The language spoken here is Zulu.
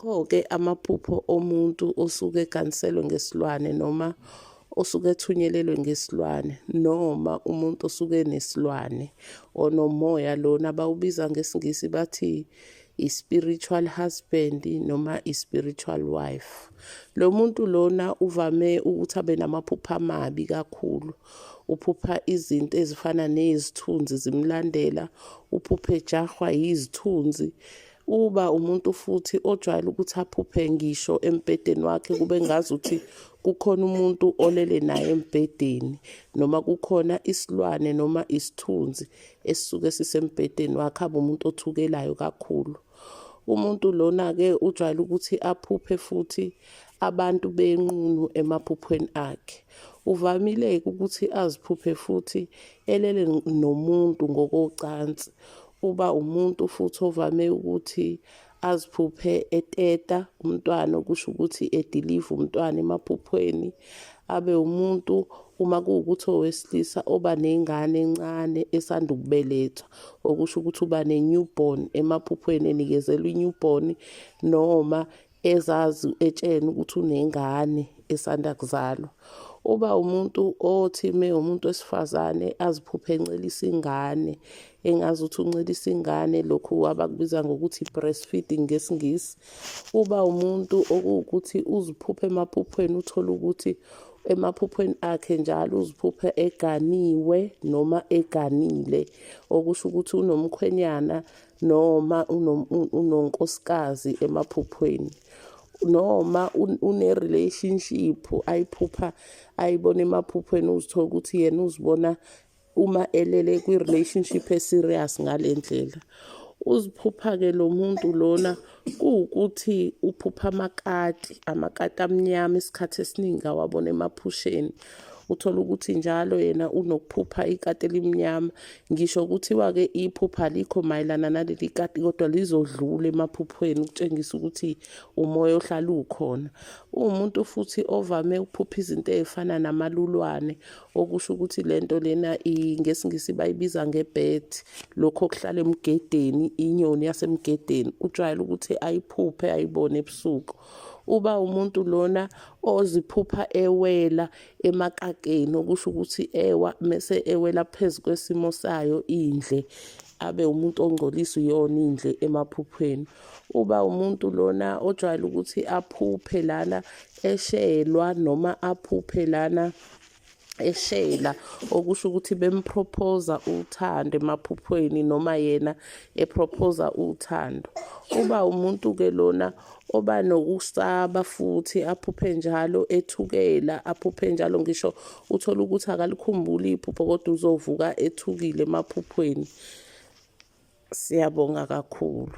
Kho-ke amaphupho omuntu osuke eganiselwe ngesilwane noma osuke ethunyelelwe ngesilwane noma umuntu osuke enesilwane onomoya lona bawubiza ngesiNgisi bathi i-spiritual husband noma i-spiritual wife. Lo muntu lona uvame ukuthi abe namaphupho amabi kakhulu. Uphupha izinto ezifana nezithunzi zimlandela, uphuphe ejahwa yizithunzi, uba umuntu futhi ojwayele ukuthi aphuphe ngisho embhedeni wakhe kube ngazi ukuthi kukhona umuntu olele naye embhedeni noma kukhona isilwane noma isithunzi esisuke sisembhedeni wakhe abe umuntu othukelayo kakhulu umuntu lona-ke ujwayele ukuthi aphuphe futhi abantu benqunu emaphuphweni akhe uvamile-ke ukuthi aziphuphe futhi elele nomuntu ngokocansi Uba umuntu futhi ovame ukuthi aziphuphe eteta umntwana okusho ukuthi ediliva umntwana emaphuphweni abe umuntu uma kuwukuthi owesilisa oba nengane encane esanda ukubelethwa okusho ukuthi uba ne-newborn emaphuphweni enikezelwa i-newborn noma ezazi etsheni ukuthi unengane esanda kuzalwa uba umuntu othi me umuntu wesifazane aziphuphe encelisa ingane engazi ukuthi uncelisa ingane lokhu abakubiza ngokuthi breastfeeding ngesingisi uba umuntu okuwukuthi uziphuphe emaphuphweni uthole ukuthi emaphuphweni akhe njalo uziphuphe eganiwe noma eganile okusho ukuthi unomkhwenyana noma unonkosikazi emaphuphweni noma une-relationship ayiphupha ayibona emaphuphweni uzithola ukuthi yena uzibona uma elele kwi-relationship e-serious ngale ndlela uziphupha-ke lo muntu lona kuwukuthi uphupha amakati amakati amnyama isikhathi esiningi awabona emaphusheni uthola ukuthi njalo yena unokuphupha ikati elimnyama ngisho kuthiwa-ke iphupha likho mayelana naleli kati kodwa lizodlula emaphuphweni ukutshengisa ukuthi umoya ohlala ukhona uwumuntu futhi ovame ukuphupha izinto ezifana namalulwane okusho ukuthi lento lena ngesingisi bayibiza ngebed lokho okuhlala emgedeni inyoni yasemgedeni ujwayele ukuthi ayiphuphe ayibone ebusuku uba umuntu lona oziphupha ewela emakakeni okusho ukuthi ewa mese ewela phezu kwesimo sayo indle abe umuntu ongcolisa iyona indle emaphuphweni uba umuntu lona ojwayele ukuthi aphuphe lana eshelwa noma aphuphe lana eshela okusho ukuthi bemprophoza uthando emaphuphweni noma yena eprophoza uthando uba umuntu ke lona oba nokusaba futhi aphuphe njalo ethukela aphuphe njalo ngisho uthola ukuthi akalikhumbuli iphupho kodwa uzovuka ethukile emaphuphweni siyabonga kakhulu